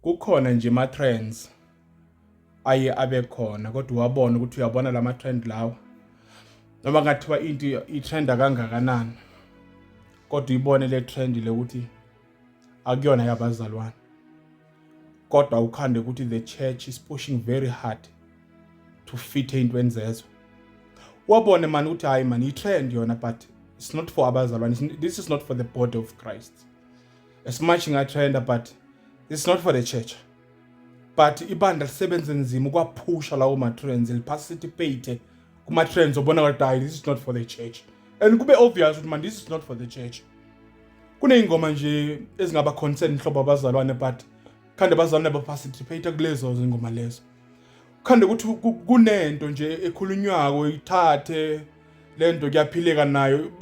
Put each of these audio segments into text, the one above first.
Kukhona nje ama trends aye abe khona kodwa uwabona ukuthi uyabona lama trend lawa noma ngathiwa into i-trenda kangakanani kodwa ibone le trend le ukuthi akuyona yabazalwane kodwa ukhande ukuthi the church is pushing very hard to fit ey'ntweni zezwe wabone mani ukuthi hhayi mani i-trend yona but it's not for abazalwane this is not for the body of christ as much ngatrenda but it's not for the church but ibandla lisebenze nzima ukwaphusha lawo ma-trends liphasitipate kuma-trends obona ngathi hayi this is not for the church and kube obvious ukuthi man this is not for the church kuney'ngoma nje ezingaba concern nhlobo abazalwane but khande abazalwane baparticipate kulezo zingoma lezo khande ukuthi kunento nje ekhulunywako ithathe le nto kuyaphileka nayo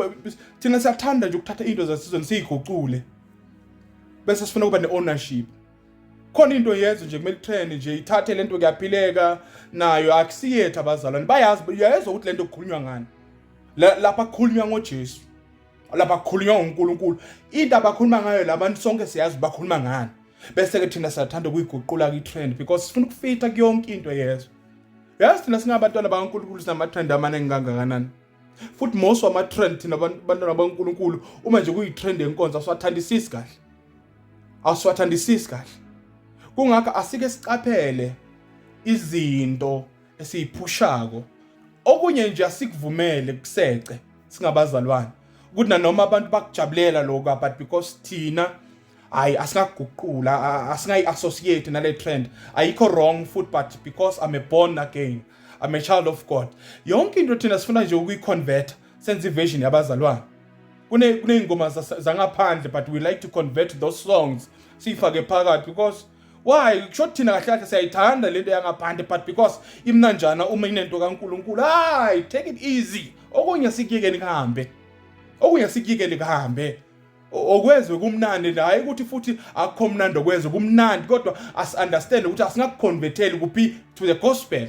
thina siyathanda nje ukuthatha into zasizweni siyigucule bese sifuna ukuba ne-ownership khona into yenze nje kumele trend nje ithathe lento kuyaphileka nayo akusiyethu abazalwane bayazi uyayezwa ukuthi lento kukhulunywa ngani lapha kukhulunywa ngoJesu lapha kukhulunywa ngoNkulunkulu into abakhuluma ngayo labantu sonke siyazi bakhuluma ngani bese ke thina siyathanda ukuyiguqula kwi-trend because sifuna ukufitha kuyonke into yezwe yazi thina singabantwana bakankulunkulu sinamatrend amaningi kangakanani futhi most wamatrend thina bantwana bakankulunkulu uma nje kuyitrend yenkonzo asiwathandisisi kahle asiwathandisisi kahle kungakho asike siqaphele izinto esiyiphushako okunye nje asikuvumele kusece singabazalwane ukuthi nanoma abantu bakujabulela lokho but because thina hayi asikaguqula asingayi associate nale trend ayikho wrong foot but because i'm a born again i'm a child of god yonke into thina sifuna nje ukuyiconvert senze iversion yabazalwane kune kuneyingoma zangaphandle but we like to convert those songs siyifake phakathi because why kusho thina kahle kahle siyayithanda lento yangaphandle but because imnanjana uma inento kaNkuluNkulu hayi take it easy okunye sikuyekeni kuhambe okunye sikuyekeni kuhambe okwezwe kumnandi la ukuthi futhi akukho mnandi okwezwe kumnandi kodwa asi-understand ukuthi asingakuconverteli kuphi to the gospel